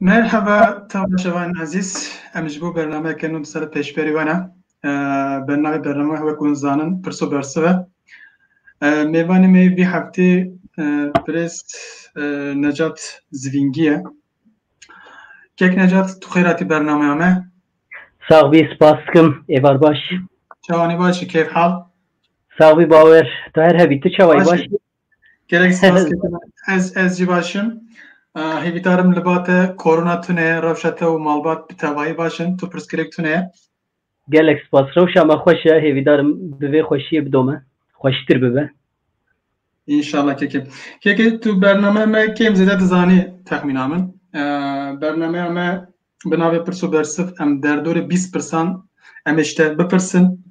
Merhaba temaşevan ezîz. Em ji bo bernameyeke nû di ser pêşberî we ne. Bi navê bername wek hûn zanin pirs û bersiv e. Mêvanê me yê vî heftê Pirêz Necat Zivîngî ye. Kek Necat tu xêr hatî bernameya me. Sağ bî spas dikim êvar baş. Çawanê baş î kêf hal. Sağ bî bawer tu her hebî tu çawayî baş. Gerek spas ketim. Ez ez jî baş im. Hêvîdarim li ba te korona tune ye, rewşa te û malbat bi tevayî baş in. Tu pirsgirêk tune ye. Gelek spas. Rewşa me xweş e. Hêvîdarim bi vê xweşiyê bidome. Xweştir bibe. İnşallah kekim. Keke tu bername me kêm zêde dizanî texmîna min. Bernameya me bi navê Pirs û Bersif em derdorê bîst pirsan em ê ji te bipirsin.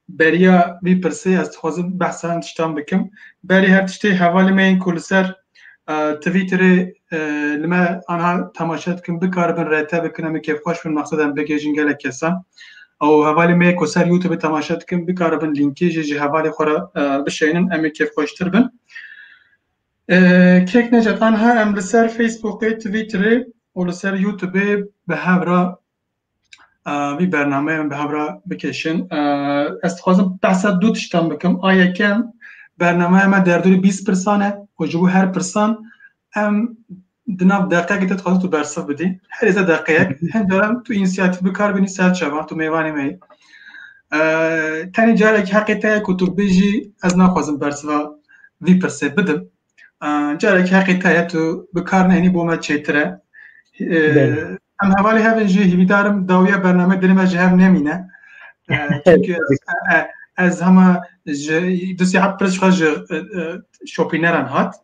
Beriya vî pirsê ez dixwazim behsa hin tiştan bikim. Berê her tiştê hevalê me yên ku li ser Twitterê li me anha temaşe dikin bikaribin rete bikin em ê kêfxweş bin mexsed em bigihêjin gelek kesan. Ew hevalê me ku ser YouTubeê temaşe dikin bikaribin lînkê jî ji hevalê xwe re bişeynin em ê kêfxweştir bin. Kêk Necat anha em li ser Facebookê, Twitterê û li ser YouTubeê bi hev re vî bernameyê min bi hev re bikêşin. Ez dixwazim behsa du tiştan bikim. A yekem bernameya me derdorî bîst pirsan e û ji bo her pirsan em di nav deqeyekê te dixwazim tu bersiv bidî. Herê te deqeyek hin caran tu însiyatîf bikar bînî ser çavan tu mêvanê me yî. Tenê carekî heqê te ye ku tu bijî ez naxwazim bersiva vî pirsê bidim. Carek heqê te ye tu bi kar nehînî bo me çêtir e. Em hevalê hev in jî hîvîdarim dawiya bername dilê me ji hev nemîne. Çünkü ez hema ji du saat pirs xwe ji şopîneran hat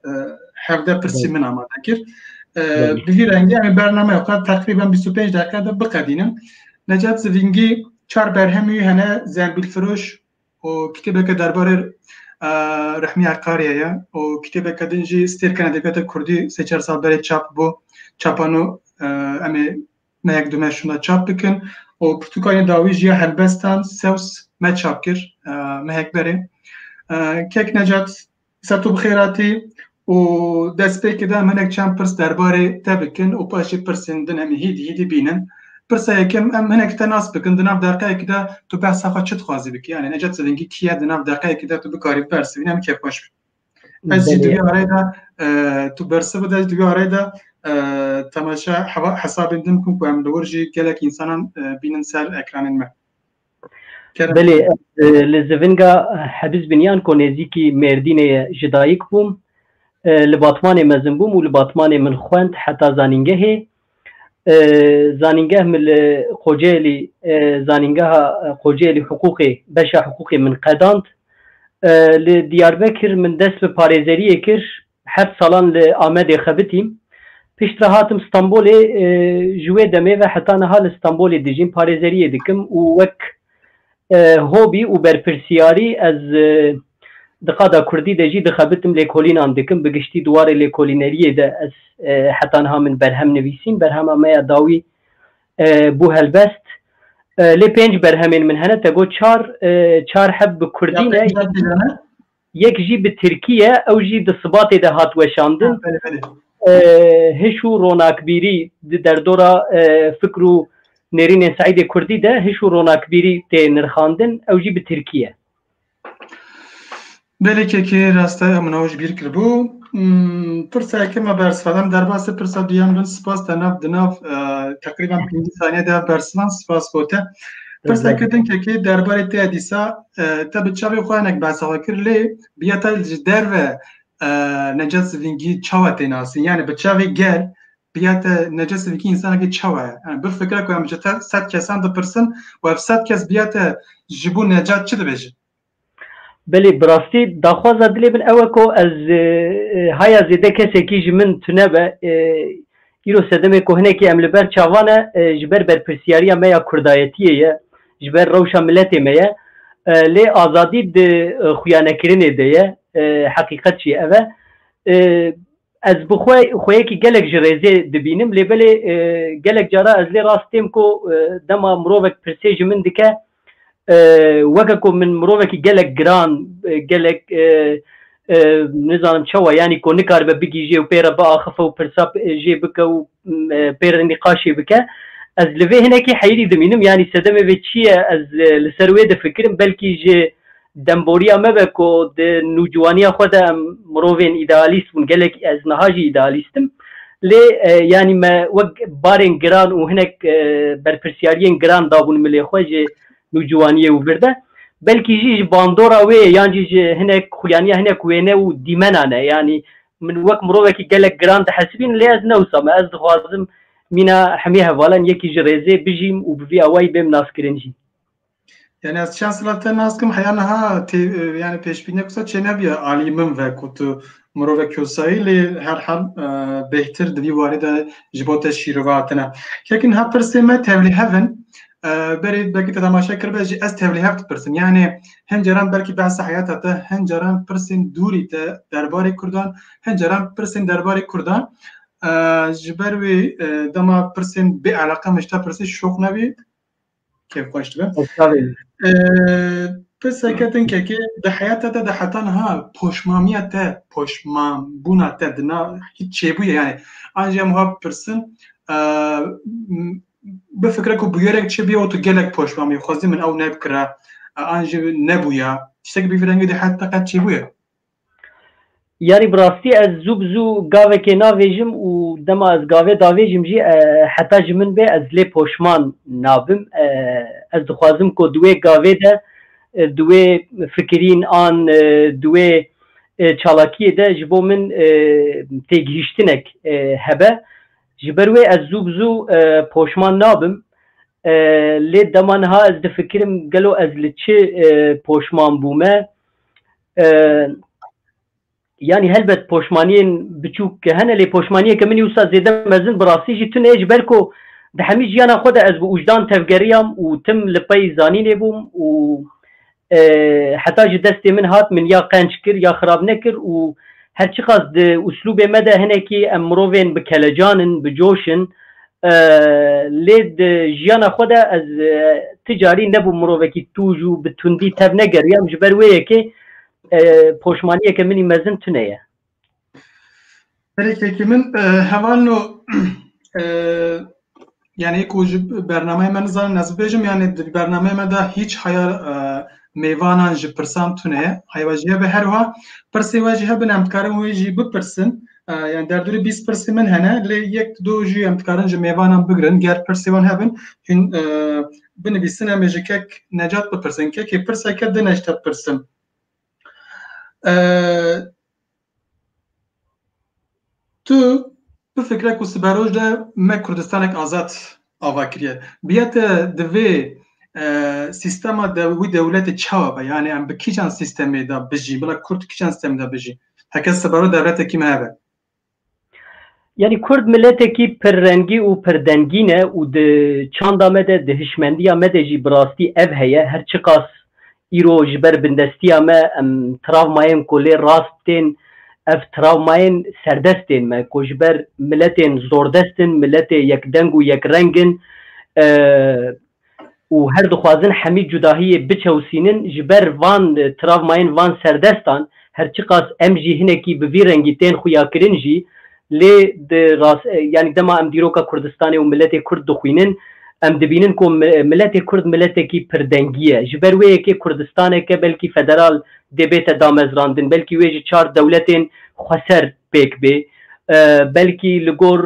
hevde pirsî min amade kir. Bi vî rengî em bername xwe teqrîben 25 deqe de biqedînim. Necat Zivîngî çar berhemî hene zembîlfiroş û kitêbeke derbarê Rehmî Eqariyê ye û kitêbeke din jî Stêrkên Edebiyata Kurdî sê çar sal berê çap bû. Çapa nû em ê mehek du meh şûna çap bikin û pirtûkanê dawî jî ya helbestan sews me çap kir mehek berê. Kek Necat Ser tu bixêratî û dest pê kede em hinek çend pirs derbarê te bikin û paş jî pirsên din em ê hîdî hîdî bînin. Pirsa yekem em hinek te nas bikin di nav deqeyekî de tu behsa xwe çi dixwazî bikî yanî Necat Zilingî kî ye di nav deqeyekî de tu bikarî bibersivînî em kêfxweş bin. Ez jî di wî areyê de tu bersiv bide ez jî di wî areyê de temaşa hesabên din bikim ku em li wir jî gelek însanan bînin ser ekranên me. Belê li zivinga Hebiz bin yan ku nêzîkî Mêrdînê ye ji dayik bûm. Li Batmanê mezin bûm û li Batmanê min xwend heta zanîngehê. Zanîngeh min li Kocaelî zanîngeha Kocaelî Hiqûqê beşa Hiqûqê min qedand. Li Diyarbekir min dest bi parêzeriyê kir Heft salan li Amedê xebitîm. Pişt re hatim Stenbolê. Ji wê demê ve heta niha li Stenbolê dijîm, parêzeriyê dikim û wek hobî û berpirsiyarî ez di qada kurdî de jî dixebitim, lêkolînan dikim. Bi giştî di warê lêkolîneriyê de ez heta niha min berhem nivîsîn. Berhema me ya dawî bû helbest. Lê pênc berhemên min hene, te got çar, çar heb bi kurdî ne. yek jî bi tirkî ye ew jî di Sibatê de hat weşandin. Hiş û ronakbîrî di derdora fikr û nêrînên Seîdê Kurdî de hiş û ronakbîrî tê nirxandin ew jî bi tirkî ye. Belê kekê rast e min ew ji bîr kiribû. Pirseke me bersiva em derbasê pirsa duyan bin spas te nav di nav teqrîban pêncî saniye de bersivan spas gote. Pirseke din kekê derbarê te dîsa Te bi çavê xwe hinek behsa xwe kir lê biya te ji derve necat sivîngî çawa tê nasîn yani bi çavê gel biya te necat sivîngî însanekî çawa ye yani bir fikra ku em ji te sed kesan dipirsin û ev sed kes biya te ji bo necat çi dibêjin Belê bi rastî daxwaza dilê min ew e ku ez haya zêde kesekî ji min tunebe Îro sedemê ku hinekî em li ber çavan e, ji ber berpirsiyariya me ya kurdayetiyê ye, ji ber rewşa miletê me ye. Lê azadî di xuyanekirinê de ye, heqîqet jî ev e. Ez bi xwe xweyekî gelek ji rêzê dibînim lê belê gelek cara ez lê rast têm ku dema mirovek pirsê ji min dike Weke ku min mirovekî gelek giran, gelek nizanim çawa yanî ku nikaribe bigihîje û pê re biaxife û pirsa jê bike û pê re nîqaşê bike, ez li vê hinekî heyrî dimînim. Yanî sedemê vê çi ye? Ez li ser wê difikirim. Belkî ji Demboriya me be ku di nûciwaniya xwe de em mirovên îdealîst bûn, gelek ez niha jî îdealîst im. Lê yanî me wek barên giran û hinek berpirsyariyên giran dabûn milê xwe ji nûciwaniyê û vir de. Belkî jî ji bandora wê ye yan jî ji hinek xuyaniya hinek wêne û dîmenan e. Yanî min wek mirovekî gelek giran dihesibînim lê ez ne wisa me. Ez dixwazim mîna hemî hevalan yekî ji rêzê bijîm û bi vî awayî bêm naskirin jî. Yani ez çend sala te nas kim heya niha tê yani pêşbîniya kusa çênebiye alî min ve ku tu mirove kosayî lê her hal bêhtir di vî warê de ji bo te şîrove hatine. Kekin ha pirsê me tevlî hevin berê belkî te temaşe kiribe jî ez tevlî hev dipirsim. Yani hin caran belkî behsa heyata te, hin caran pirsên dûrî te derbarê Kurdan, hin caran pirsên derbarê Kurdan. Ji ber wê dema pirsên bê eleqe min ji te pirsî şoq nebî kêf xweş dibe pirseke din kekê di heyata te de heta niha poşmamiya te poşmanbûna te di nav hiç çêbûye yani an jî em wiha bipirsin bifikre ku bûyerek çi bûye û tu gelek poşmamî xwezî min ew nebikira an jî nebûya tiştekî bî vî rengî di heyata te qet çêbûye Yanî bi rastî ez zû bi zû gavekê navêjim û dema ez gavê davêjim jî heta ji min bê ez lê poşman nabim. Ez dixwazim ku di wê gavê de di wê fikirîn an di wê çalakiyê de ji bo min têgihîştinek hebe. Ji ber wê ez zû bi zû poşman nabim. Lê dema niha ez difikirim gelo ez li çi poşman bûme? Yanî helbet poşmaniyên biçûk ke hene lê poşmaniyeke min wisa zêde mezin bi rastî jî tune ye ji ber ku di hemî jiyana xwe de ez bi ûjdan tevgeriyam û tim li pey zanînê bûm û heta ji destê min hat min ya qenc kir ya xirab nekir û her çiqas di uslûbê me de hinekî em mirovên bi kelecan in, bi coş in Lê di jiyana xwe de ez ti carî nebûm mirovekî tûj û bi tundî tev negeriyam ji ber wê yekê poşmaniyeke min î mezin tune ye. Herikekî min heval no yanî ku ji bernameyê me nizanin ez bibêjim yanî di bernameyê me de hîç heya mêvanan ji pirsan tune ye. Heyva jî hebe her wiha pirsê we jî hebin em dikarin wê jî bipirsin. Yani derdurê bîst pirsê min hene lê yek du jî em dikarin ji mêvanan bigirin ger pirsê wan hebin hîn binivîsin em ê ji kek necat bipirsin kekê pirseke di nej te pirsin tu bifikre ku siberoj de me kurdistanek azad ava kiriye biye te divê sistema wî dewletê çawa be yani em bi kîjan sistemê de bijî bila kurd kîjan sistemê de bijî Heke sebero devletekî me hebe. Yani Kurd miletekî pirrengî û pirdengî ne û di çanda me de di hişmendiya me de jî bi rastî ev heye her çiqas îro ji ber bindestiya me em travmayên ku lê rast tên ev travmayên serdest tên me ku ji ber miletên zordest in miletê yekdeng û yekreng in û her dixwazin Hemîd Cudahiyê biçewsînin, ji ber van travmayên van serdestan her çiqas em jî hinekî bi vî rengî tên xuyakirin jî lê di rast yanî dema em dîroka Kurdistanê û miletê Kurd dixwînin em dibînin ku miletê Kurd miletekî pirdengî ye ji ber wê yekê Kurdistaneke belkî federal dê bête damezrandin belkî wê ji çar dewletên xweser pêk bê. Belkî li gor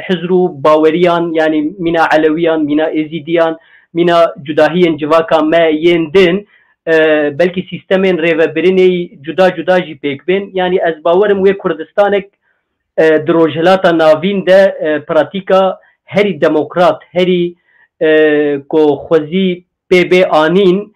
hizr û baweriyan yanî mîna Elewiyan, mîna Êzîdiyan, mîna cudahiyên civaka me yên din belkî sîstemên rêvebirinê yî cuda cuda jî pêk bên. Yanî ez bawer im wê Kurdistanek di Rojhilata Navîn de pratîka herî demokrat, herî ku xwezî Pê bê anîn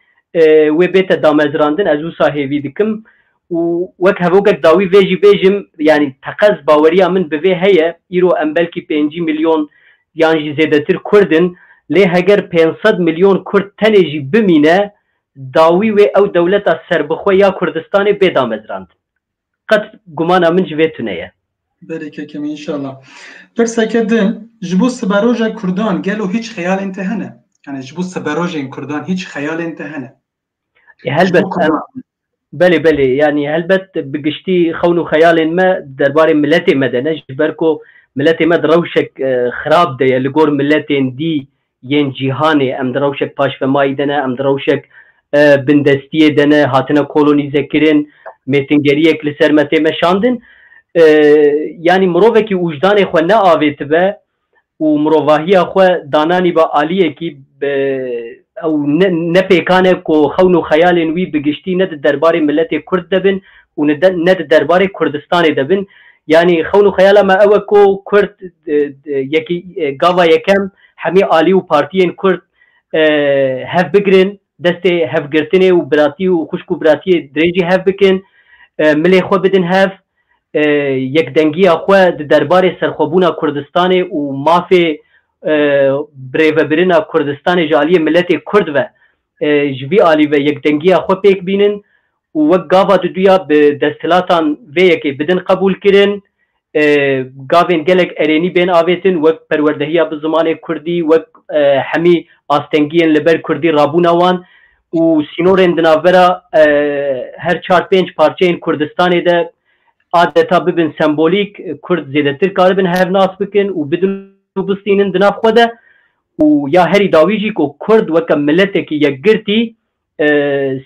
wê bête damezrandin ez wisa hêvî dikim û wek hevokek dawî vê jî bêjim yanî teqez baweriya min bi vê heye îro em belkî pêncî milyon yan jî zêdetir kurd in lê heger pênc sed milyon kurd tenê jî bimîne dawî wê ew dewleta serbixwe ya Kurdistanê bê damezrandin. Qet gumana min ji vê tune ye. Berê keke me inşallah. Pirseke din, ji bo siberoja kurdan gelo hîç xeyalên te hene? Yanî ji bo siberojên kurdan hîç xeyalên te hene? Helbet em belê belê yanî helbet bi giştî xewn û xeyalên me derbarê miletê me de ne ji ber ku miletê me di rewşek xirab de ye li gor miletên dî yên cîhanê, em di rewşek paşvemayî de ne, em di rewşek bindestiyê de ne, hatine kolonîzekirin, mêtingeriyek li ser me tê meşandin. Yanî mirovekî ûjdanê xwe neavêtibe û mirovahiya xwe dananîbe aliyekî bi ew ne pêkan e ku xewn û xeyalên wî bi giştî ne di derbarê miletê Kurd de bin û ne di derbarê Kurdistanê de bin. Yanî xewn û xeyala me ew e ku Kurd yekî gava yekem Hemî Alî û partiyên Kurd hev bigirin, destê hevgirtinê û biratî û xwişk û biratiyê dirêjî hev bikin, milê xwe bidin hev, yekdengiya xwe di derbarê serxwebûna Kurdistanê û mafê birêvebirina Kurdistanê ji aliyê miletê Kurd ve ji vî alî ve yekdengiya xwe pêk bînin û wek gava duduya bi desthilatan vê yekê bidin qebûl kirin, gavên gelek erênî bên avêtin wek perwerdehiya bi zimanê kurdî wek hemî astengiyên li ber kurdî rabûna wan û sînorên di navbera her çar pênc parçeyên Kurdistanê de adeta bibin sembolîk, kurd zêdetir karibin hev nas bikin û bidin û bistînin di nav xwe de û ya herî dawî jî ku kurd weke miletekî yekgirtî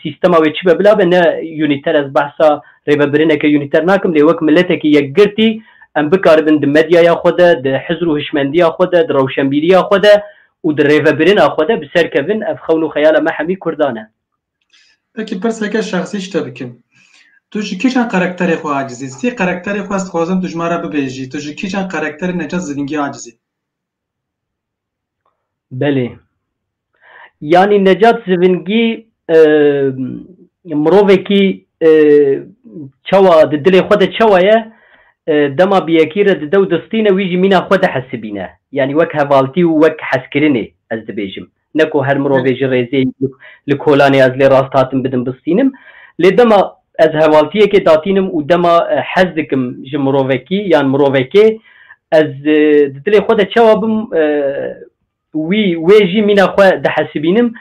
سیستما wê çi be bila be ne unîter ez behsa rêvebirineke unîter nakim lê wek miletekî yekgirtî em bikaribin di medyaya xwe de, di hizr û hişmendiya xwe de, di rewşenbîriya xwe de û di rêvebirina xwe de bi ser kevin ev xewn û xeyala me hemî kurdan e. Peki pirseke şexsî ji te bikim. Tu ji kîjan karakterê xwe acizî? Sî karakterê xwe ez dixwazim tu ji me re bibêjî. Tu ji kîjan karakterê Necat Zilingî acizî? Belê. Yanî Necat Zivingî mirovekî çawa di dilê xwe de çawa ye dema bi yekî re dide û distîne wî jî mîna xwe dihesibîne. Yanî wek hevaltî û wek hezkirinê ez dibêjim. Ne ku her mirovê ji rêzê li kolanê ez lê rast hatim bidim bistînim. Lê dema ez hevaltiyekê datînim û dema hez dikim ji mirovekî yan mirovekê ez di dilê xwe de çawa bim wî wê jî mîna xwe dihesibînim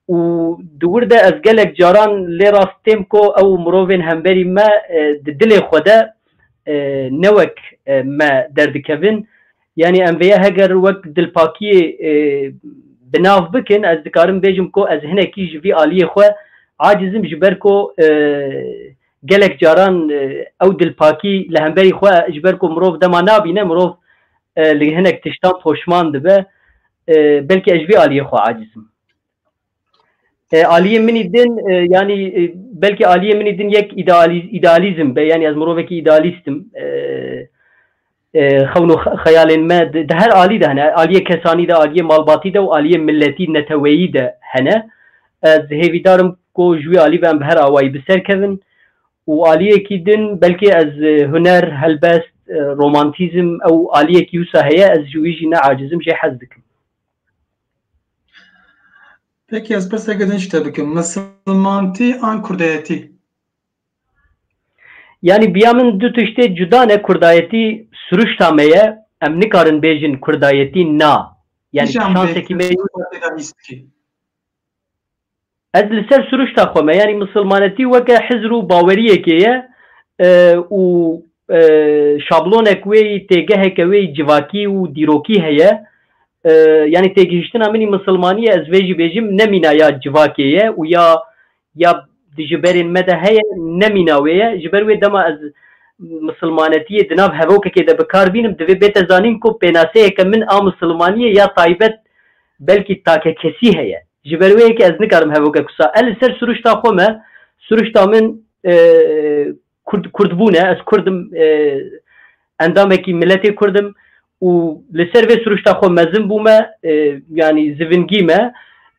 û di wir de ez gelek caran lê rast têm ku ew mirovên hemberî me di dilê xwe de ne wek me derdikevin Yanî em vê heger wek dilpakiyê bi nav bikin ez dikarim bêjim ku ez hinekî ji vî aliyê xwe acizim ji ber ku gelek caran ew dilpakî li hemberî xwe ji ber ku mirov dema nabîne mirov li hinek tiştan poşman dibe belkî ez ji vî aliyê xwe acizim. Aliyê min ê din yanî belkî aliyê min ê din yek îdealîzm be yanî ez mirovekî îdealîst im. Xewn û xeyalên me di her alî de hene. Aliyê kesanî de, aliyê malbatî de û aliyê miletî, neteweyî de hene. Ez hêvîdar im ku ji wî alî ve em bi her awayî bi ser kevin û aliyekî din belkî ez huner, helbest, romantîzm ew aliyekî wisa heye ez ji wî jî neacîz im jê hez dikim. Peki ez pirseke din ji te bikim. Misilmantî an kurdayetî? Yanî biya min du tiştê cuda ne. Kurdayetî siruşta me ye. Em nikarin bêjin kurdayetî na. Yani şansekî me ye. Ez li ser siruşta xwe me, yanî misilmanetî weke hizr û baweriyekê ye û şablonek wê yî, têgeheke wê yî civakî û dîrokî heye. Yanî têgihiştina min yî misilmanî ye, ez vê jî bêjim ne mîna ya civakê ye û ya ya di ji berên me de heye ne mîna wê ye. Ji ber wê dema ez misilmanetiyê di nav hevokekê de bi kar bînim divê bête zanîn ku pênaseyeke min a misilmaniyê ya taybet belkî takekesî heye. Ji ber wê yekê ez nikarim hevoke kusa. Ez li ser siruşta xwe me, siruşta min kurd kurdbûn e, ez kurd im, endamekî miletê kurd im û li ser vê siruşta xwe mezin bûme, yanî zivingî me.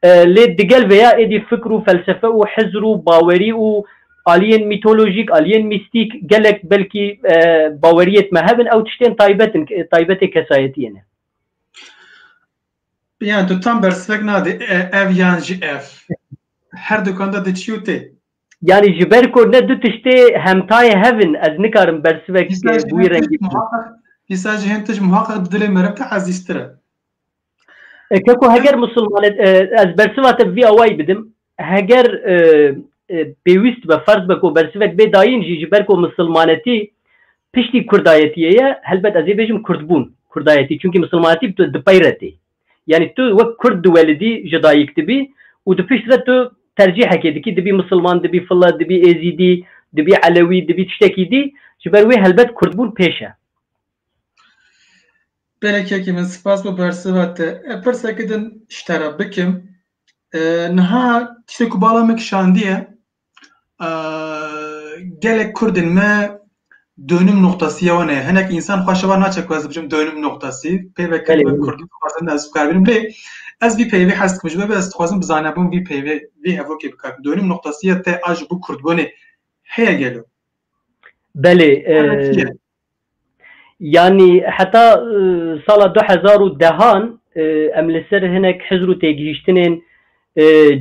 Lê digel vê ya êdî fikr û felsefe û hizr û bawerî û aliyên mîtolojîk, aliyên mîstîk gelek belkî baweriyêt me hebin, ew tiştên taybet in, taybetê kesayetiyê ne. Yani tu tam bersivek nadê e, ev yan jî ev. Her dukan de diçî û tê. Yani ji ber ku ne du tiştê hemtayê hev in ez nikarim bersivek Dîsa ji bi wî hin tişt rengî bidim. muhaqqeq dîsa ji hin tişt muhaqqeq di dilê me re te ezîztir e. E, Keko heger musulman e, e, ez bersiva te bi vî awayî bidim. Heger pêwîst be ferz be ku bersivek bê dayîn jî ji ber ku misilmanetî piştî kurdayetiyê ye, helbet ez ê bêjim kurdbûn, kurdayetî çunkî misilmanetî dipeyre tê. Yanî tu wek kurd diwelidî ji dayik dibî û di pişt re tu tercîhekê dikî dibî misilman, dibî file, dibî êzîdî, dibî elewî, dibî tiştekî dî, ji ber wê helbet kurdbûn pêş e. Belê Kekê min spas bo bersiva te. Pirseke din ji te re bikim. Niha tiştê ku bala min kişandiye gelek Kurdên me dönüm noktası ya wan e. Hinek insan xwe şevan naçe ku ez dibijim dönüm noktası. Peyve ke min Kurdî dixwazin ez bikar bînim lê ez vî peyvê hez dikim ji ber ez dixwazim bi zanebûn vî peyvê vî hevokê bikar bikim. Dönüm noktası ya te a ji bo Kurdbûnê heye gelo? Belê Yanî heta sala du hezar û dehan em li ser hinek hizr û têgihîştinên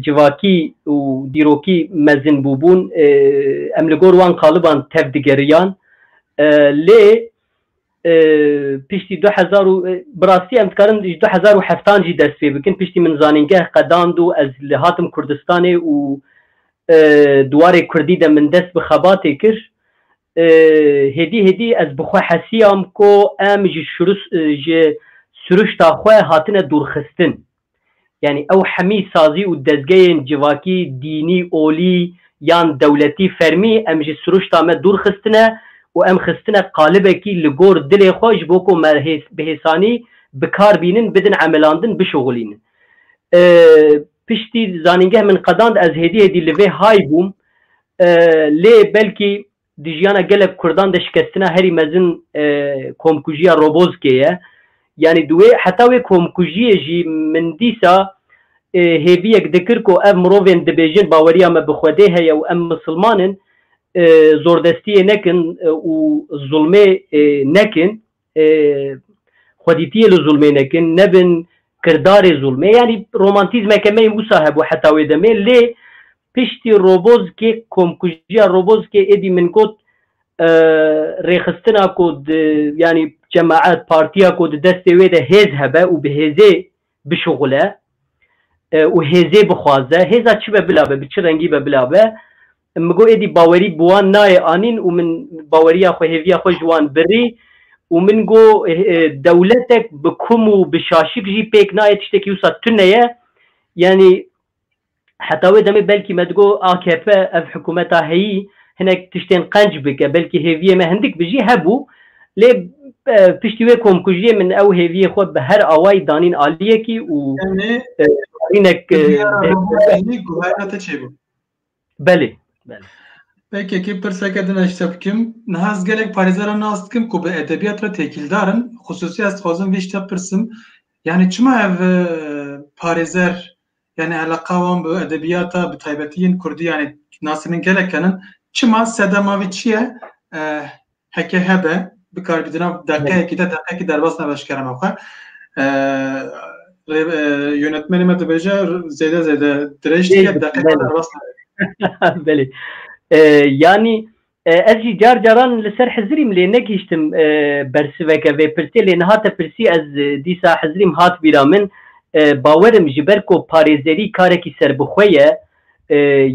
civakî û dîrokî mezin bûbûn, em li gor wan qaliban tevdigeriyan lê piştî du hezar û bi rastî em dikarin ji du hezar û heftan jî dest pê bikin piştî min zanîngeh qedand û ez li hatim Kurdistanê û di warê Kurdî de min dest bi xebatê kir Hêdî hêdî ez bi xwe hesiyam ku em ji ji siruşta xwe hatine dûrxistin. Yanî ew hemî sazî û dezgeyên civakî, dînî, olî yan dewletî fermî em ji siruşta me dûr xistine û em xistine qalibekî li gor dilê xwe ji bo ku me bi hêsanî bi kar bînin, bidin emelandin, bişuxulînin. Piştî zanîngeh min qedand ez hêdî hêdî li vê hay bûm Lê belkî di jiyana gelek Kurdan de şikestina herî mezin komkujiya Robozkê ye. Yanî di wê heta wê komkujiyê jî min dîsa hêviyek dikir ku ev mirovên dibêjin baweriya me bi Xwedê heye û em misilman in, zordestiyê nekin û zulmê nekin xwedîtiyê li zulmê nekin, nebin kirdarê zulmê. Yanî romantîzmeke me yên wisa hebû heta wê demê lê piştî Robozkê komkujiya Robozkê êdî min got rêxistina ku di yanî cemaet partiya ku di destê wê de hêz hebe û bi hêzê bişuxule û hêzê bixwaze, hêza çi be bila be, bi çi rengî be bila be Min got êdî bawerî bi wan nayê anîn û min baweriya xwe, hêviya xwe ji wan birî û min got dewletek bi kum û bi şaşik jî pêk nayê tiştekî wisa tune ye. Yanî heta wê demê belkî me digot akp ev hikûmeta heyî hinek tiştên qenc bike belkî hêviyê me hindik bi jî hebû lê piştî wê komkujiyê min ew hêviyê xwe bi her awayî danîn aliyekî û barînek. Belê. PKK pirseke din ez ji te bikim. Niha ez gelek parêzeran nas dikim ku bi edebiyat re têkîldar in. Xisûsî ez dixwazim vê ji te pirsim. Yanî çima ev parêzer yanî eleqa wan bi edebiyata bi taybetî yên kurdî yanî nasî min gelek henin. Çima sedema vê çi ye? Heke hebe bikarbîdina deqeyekî de deqekî derbas nebe ji kerema xwe. Yönetmenê me dibêje zêde zêde dirêj dike deqekî derbas nebe. Belê. Yanî ez jî car caran li ser hizirîm lê negihiştim bersiveke vê pirsê lê niha te pirsî ez dîsa hizirîm hat bîra min bawerim ji ber ku parêzerî karekî serbixwe ye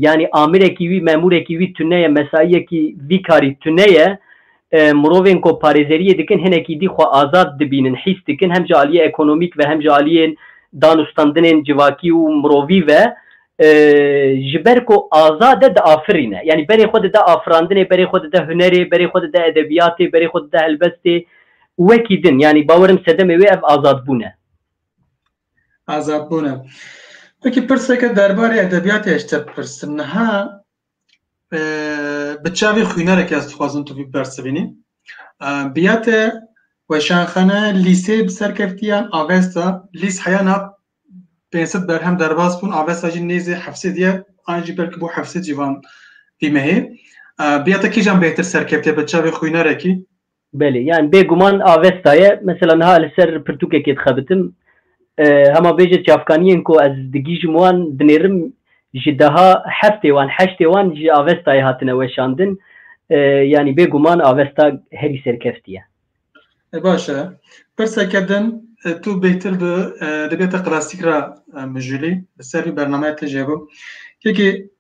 yanî amirekî wî, memûrekî wî tune ye, mesaiyekî vî karî tune ye. Mirovên ku parêzeriyê dikin hinekî dî xwe azad dibînin, hîs dikin hem ji aliyê ekonomîk ve hem ji aliyên danûstandinên civakî û mirovî ve ji ber ku azad e diafirîne. Yanî berê xwe dide afirandinê, berê xwe dide hunerê, berê xwe dide edebiyatê, berê xwe dide helbestê û wekî din. Yanî bawerim sedemê wê ev azadbûn e. Azad bûne. Peki pirseke derbarê edebiyatê ez te bipirsim. Niha bi çavê xwînereke ez dixwazim tu vî bersivînî. Biya te weşanxane lîsê bi serkeftiyan avesta lîs heya na pênsit berhem derbas bûn avesta jî nêzê hefsê diye an jî belkî bû hefsê cîvan vî mehê. Biya te kîjan bêhtir serkeftiye bi çavê xwînerekî Belê, yan bêguman avesta ye. Mesela niha li ser pirtûkekê dixebitim. Hema bêje çavkaniyên ku ez digihîjim wan dinêrim ji deha heftê wan, heştê wan ji avestayê hatine weşandin. Yanî bêguman avesta herî serkeftî ye. Baş e. Pirseke din, tu bêhtir bi edebiyata klasîk re mijûlî, li ser vî bernameya te jê bû. Yekê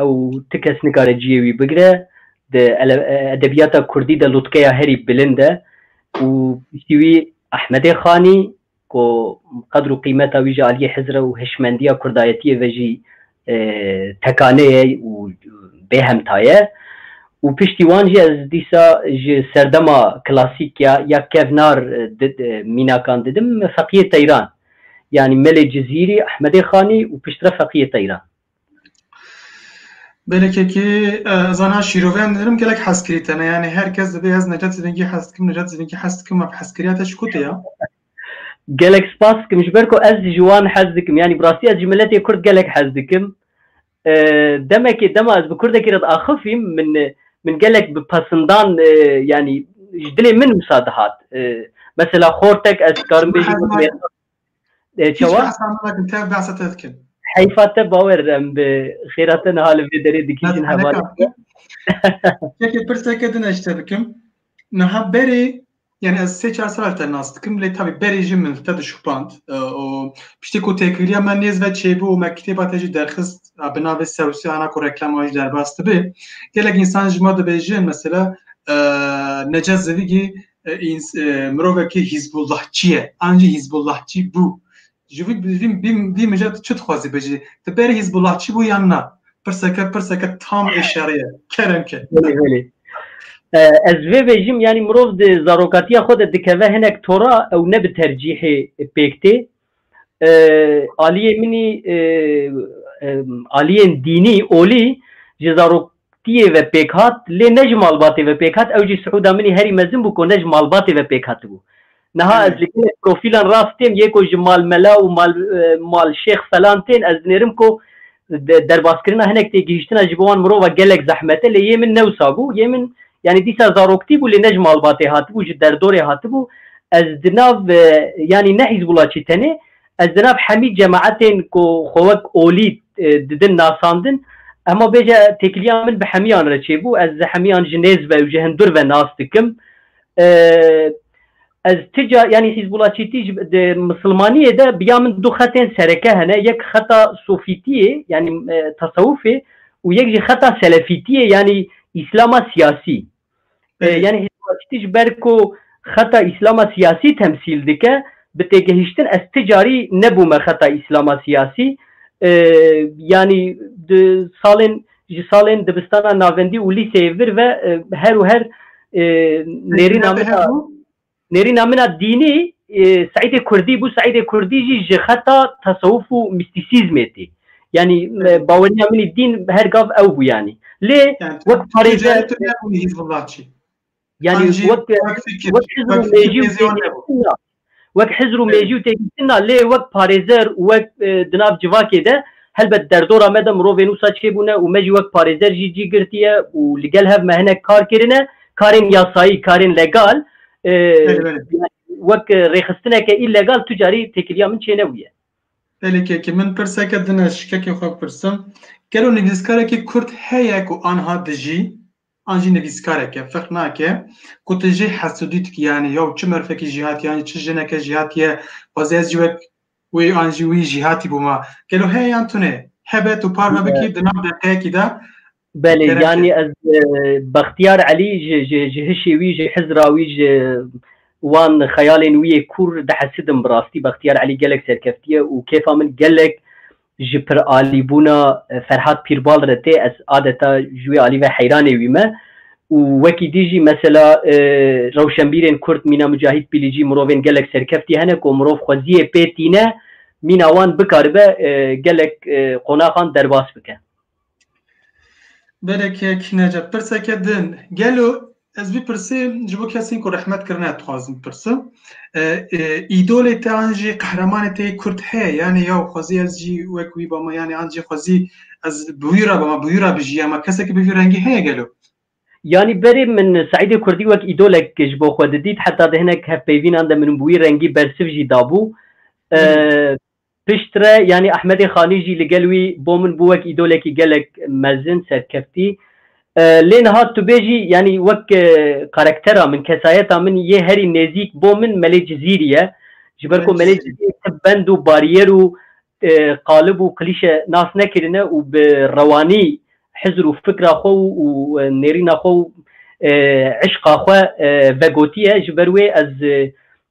Ew ti kes nikare ciyê wî bigire. Di edebiyata kurdî de lutkeya herî bilind e û piştî wî Ehmedê Xanî ku qedr û qîmeta wî ji aliyê hizr û hişmendiya kurdayetiyê ve jî tekane ye û bê hemta ye û piştî wan jî ez dîsa ji serdema klasîk ya ya kevnar mînakan didim Feqiyê Teyran yanî Melê Cizîrî, Ehmedê Xanî û piştre Feqiyê Teyran. Belekekî zana şîroveyan didim gelek hez kirî tene yanî her kes dibê ez Necat Zivîngî hez dikim Necat Zivîngî hez dikim ev hezkiriya te ji ku tê ya? Gelek spas dikim ji ber ku ez jî ji wan hez dikim yanî bi rastî ez ji miletê kurd gelek hez dikim demekê dema ez bi kurdekî re diaxifîm min min gelek bi pesindan yanî ji dilê min wisa dihat mesela xortek ez dikarim bêjim Çawa? Tev behsa te dikin. Heyfa te bawer em bi xêra te niha li vê derê dikîjin hema. Çekê pirseke din eşte bikim. Niha berê yani ez sê çar sal te nas dikim lê tabi berê jî min te dişupand û piştî ku têkiriya me nêz ve çêbû û me kitêba te jî derxist bi navê sewsî ana ku reklama jî derbas dibe gelek însan ji me dibêjin mesela Necat Zivîgî mirovekî hîzbullahçî ye an jî hîzbullahçî bû ji vî vî mija tu çi dixwazî bijî tu berê hîzbullahçî bû yan na pirseke pirseke tam ê şerê ye kerem ke ez vê vêjim yanî mirov di zarokatiya xwe de dikeve hinek tora ew ne bi tercîhê pêk tê aliyê minî aliyên dînî olî ji zaroktiye ve pêk hat lê ne ji malbatê ve pêk hat ew jî siûda minî herî mezin bû ku ne ji malbatê ve pêk hatibû. Niha ez li gelek profîlan rastêm yê ku ji malmela û mal malşêx felan tên ez dinêrim ku Derbaskirina hinek têgihîştina ji bo wan mirova gelek zehmet e lê yê min ne wisa bû. Yê min yanî dîsa zaroktî bû lê ne ji malbatê hatibû ji derdorê hatibû. Ez di nav yanî ne hîzbûlaçî tenê ez di nav hemî cemaetên ku xwe wek olî didin nasandin hema bêje têkiliya min bi hemîyan re çêbû. Ez hemîyan ji nêz ve û ji hundur ve nas dikim. Ez tica yanî hîzbûlaçîtî ji di misilmaniyê de biya min du xetên sereke hene yek xeta sofîtiyê yanî e, tasewufê û yek jî xeta selefîtiyê yanî îslama siyasî. E, Belê. yanî hîzbûlaçîtî ji ber ku xeta îslama siyasî temsîl dike bi têgehîştin ez ti carî nebûme xeta îslama siyasî. E, yanî di salên Ji salên dibistana navendî û lîseyê vir ve her û her nêrîna min a nêrîna min a dînî Seîdê Kurdî bû. Seîdê Kurdî jî ji xeta tesewuf û mîstîsîzmê tê. Yanî baweriya min ê dîn her gav ew bû yanî. Lê wek parêzer. Yani Ancî wek wek fikir, wek hizr û wek fikir mêjî û têzî wan nebû. têgihiştin na. Wek hizr û mêjî û têgihiştin na lê wek parêzer û wek e, di nav civakê de helbet derdora me de mirovên wisa çêbûne û me jî wek parêzer jî cî girtiye û li gel hev me hinek kar kirine, karên yasayî, karên legal. E, Belê belê. wek e, rêxistineke îllegal tu carî têkiliya min çênebûye. Belê kekê min pirseke din ez ji kekê xwe pirsim. Gelo nivîskarekî kurd heye ku anha dijî? an jî nivîskarek e ferq nake ku tu jê hesûdî dikî yanî ya çi merfekî jî hatî yanî çi jineke jî hatîye xwezê ez jî wek wê an jî wî jî hatî bûma gelo heye yan tune hebe tu parve bikî di nav deqeyekî de Belê yanî ez e, Bextiyar Elî ji ji ji hişê wî ji hizra wî ji wan xeyalên wî yê kûr dihesidim bi rastî Bextiyar Elî gelek serkeftiye û kêfa min gelek Ji piralîbûna Ferhad Pîrbal re tê, ez adeta ji wê alî ve heyranê wî me û wekî dî jî mesela rewşenbîrên kurd mîna Micahîd Pîlîcî mirovên gelek serkeftî hene ku mirov xweziyê pê tîne mîna wan bikaribe gelek qonaxan derbas bike. Berekek Necep, pirseke din. Gelo ez vî pirsê ji bo kesên ku rehmet kirine dixwazim bipirsim. Îdolê te an jî qehremanê te yê Kurd heye yanê ya xwezî ez jî wek wî bama yanê an jî xwezî ez bi wî re bama bi wî re bijîya ma kesekî bi vî rengî heye gelo? Yanî berê min Seîdê Kurdî wek îdolek ji bo xwe didît heta di hinek hevpeyvînan de min û bi wî rengî bersiv jî dabû. Piştre yanî Ehmedê Xanî jî li gel wî bo min bû wek îdolekî gelek mezin, serkeftî. Lê niha tu bê jî yanî wek karaktera min, kesayeta min yê herî nêzîk bo min Melê Cizîrî ye. Ji ber ku Melê Cizîrî ti bend û barîyer û qalib û klîşe nas nekirine û bi rewanî hizr û fikra xwe û nêrîna xwe û îşqa xwe vegotiye. Ji ber wê ez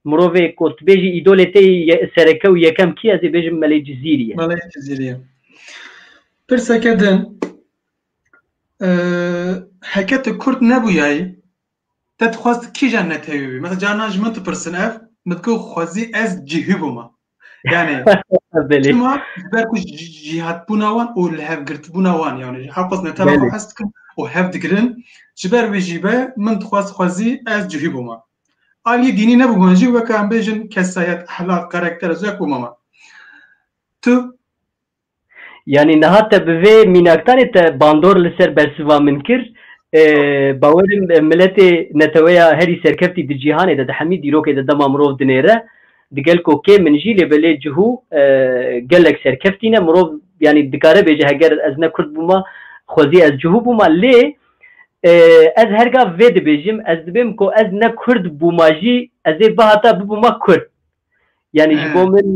Mirovê ku tu bêjî îdolê te yê sereke û yekem kî ye? Ez ê bêjim Melê Cizîrî ye. Melê Cizîrî ye. Pirseke din, heke tu Kurd nebûyayî te dixwest kîjan netewî bî? Mesela carinan ji min dipirsin ev, min digot xwezî ez cihî bûma. Yani Belê. Çima ji ber ku jîhatbûna wan û li hevgirtbûna wan yani ji heqos ne tena xwe Belê. hez dikin û hev digirin ji ber wê jî be min dixwaz xwezî ez cihî bûma. Aliyê dînî nebûman jî weke em bêjin kesayet, ehlaq, karakter ez wek bûma me. Tu Yanî niha te bi vê mînakdanê te bandor li ser bersiva min kir. Bawer im miletê neteweya herî serkeftî di cîhanê de di hemî dîrokê de dema mirov dinêre digel ku kê min jî lê belê cihû gelek serkeftî ne. Mirov yanî dikare bêje heger ez ne kurd bûma xwezî ez cihû bûma lê ez her gav vê dibêjim ez dibêm ku ez ne kurd bûma jî ez ê bihata bibûma kurd. Yani ji bo min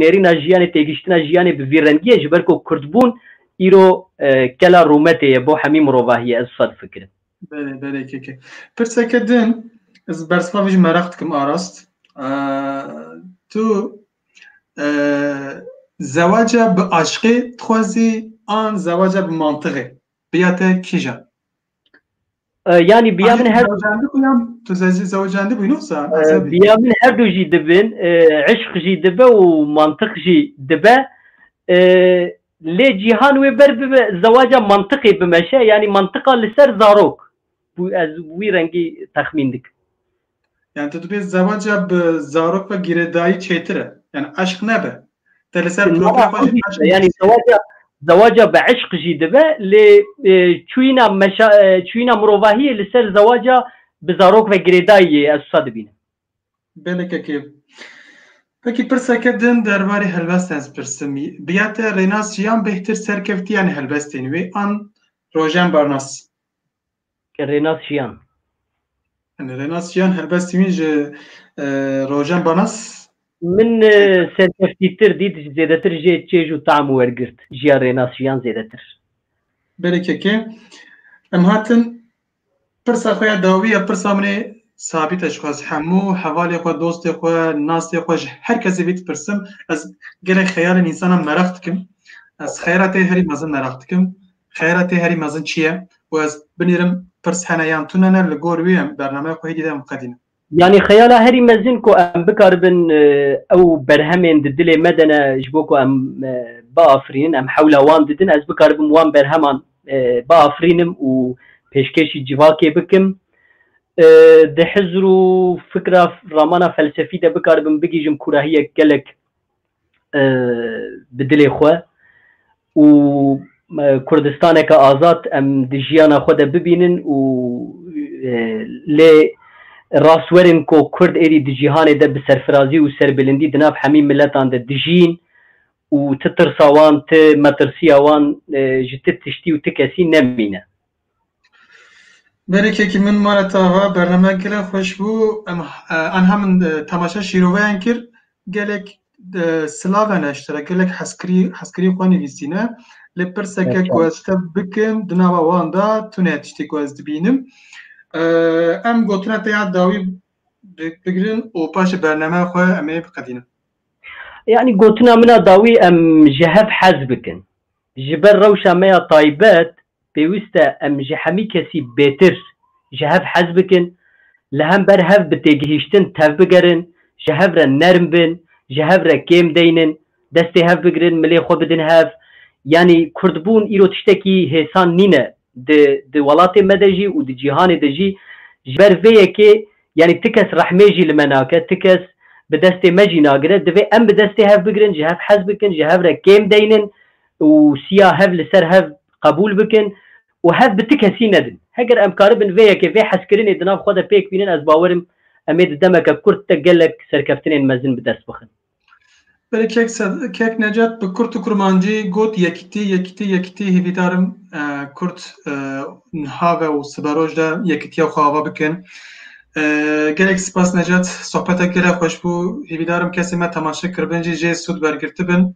nêrîna jiyanê têgiştina jiyanê bi vî rengiye ji ber ku Kurdbûn îro kela rûmetê ye bo hemî mirovahiye ez wisa difikirim. Belê belê keke. Pirseke din ez bersivavê jî meraq dikim arast. Tu zewaca bi aşqê dixwazî an zewaca bi mantiqê? Biya te kîjan? Yani biya min her tu zewcandî bûyî nosa biya min her du jî dibin eşq jî dibe û mantiq jî dibe lê cîhan wê ber bibe zewaca mantiqê bimeşe yanî mantiqa li ser zarok bû ez wî rengî texmîn dikim. Yani tu dibê zewaca bi zarok ve girêdayî çêtir e. Yani eşq nebe. Te li ser profîla xwe jî eşq Yani zewaca zewaca bi eşq jî dibe lê çûyîna meşa çûyîna mirovahiyê li ser zewaca bi zarok ve girêdayî yê ez wisa dibînim. Belê kekê. Pekî pirseke din derbarê helbestan ez pirsim. Biya te rênas jiyan bêhtir serkevtiyan helbestên wê an rojen barnas. Ke Rênas Jiyan. Yanî Rênas Jiyan helbestî wîn ji Rojen Banas. Min serkeftîtir dît ji zêdetir jê çêj û tam wergirt jiya Rênas Jiyan zêdetir. Berê keke em hatin pirsa xwe ya dawî ya pirsa min ê sabît e ji xwe ez hemû hevalê xwe dostê xwe nasê xwe ji her kesê vî dipirsim ez gelek xeyalên însanan meraq dikim ez xeyra tê herî mezin meraq dikim Xeyra tê herî mezin çi ye? Û ez binêrim pirs hene yan tune ne li gor wî em bernameya xwe hêdî de em qedînin. Yanî xeyala herî mezin ku em bikaribin ew berhemên di dilê me de ne ji bo ku em biafirînin em hewla wan didin ez bikaribim wan berheman biafirînim û pêşkêşî civakê bikim. Di hizr û fikra ramana felsefî de bikaribim bigihîjim kûrahiyek gelek bi dilê xwe û Kurdistaneke azad em di jiyana xwe de bibînin û lê rast werin ku Kurd êdî di cîhanê de bi serfirazî û serbilindî di nav hemî miletan de dijîn û ti tirsa wan, ti metirsiya wan ji ti tiştî û ti kesî nemîne. Berêkekî min Maret Ava, bername gelek xweş bû. Em aniha min temaşeya şîroveyan kir. Gelek silav hene ji te re, gelek hezkirî hezkirî xwe nivîsîne. Lê pirseke ku ez ji te bikim di nava wan de tune ye tiştê ku ez dibînim. Em gotina te ya dawî bigirin û paşê bernameya xwe em ê biqedînin. Yanî gotina min a dawî em ji hev hez bikin. Ji ber rewşa me ya taybet Pêwîst e em ji hemî kesî bêtir ji hev hez bikin, li hember hev bi têgihîştin tevbigerin, ji hev re nerm bin, ji hev re kêm deynin, destê hev bigirin, milê xwe bidin hev. Yanî kurdbûn îro tiştekî hêsan nîne. Di di welatê me de jî û di cîhanê de jî ji ber vê yekê yanî ti kes rehmê jî li me nake, ti kes bi destê me jî nagire. Divê em bi destê hev bigirin, ji hev hez bikin, ji hev re kêm deynin, û siya hev li ser hev qebûl bikin û hev bi ti kesî nedin. Heger em karibin vê yekê, vê hezkirinê di nav xwe de pêk bînin ez bawer im em ê di demeke kurt de gelek serkeftinên mezin bi dest bixin. Berê Kek Kek Necet bi kurt û kurmancî got Yekîtî, yekîtî, yekîtî hêvîdar im kurt niha ve û sibe roj de yekîtiya xwe ava bikin. Gelek spas Necet, sohbetek gelek xweş bû. Hêvîdar im kesên me temaşe kiribin jî jê sûd wergirtibin.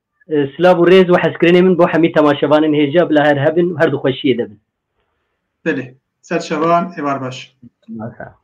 Silav û rêz û hezkirinê min bo hemî temaşevanên hêja bila her hebin û her di xweşiyê de bin. Bilê. Ser şevan êvar baş. Masa.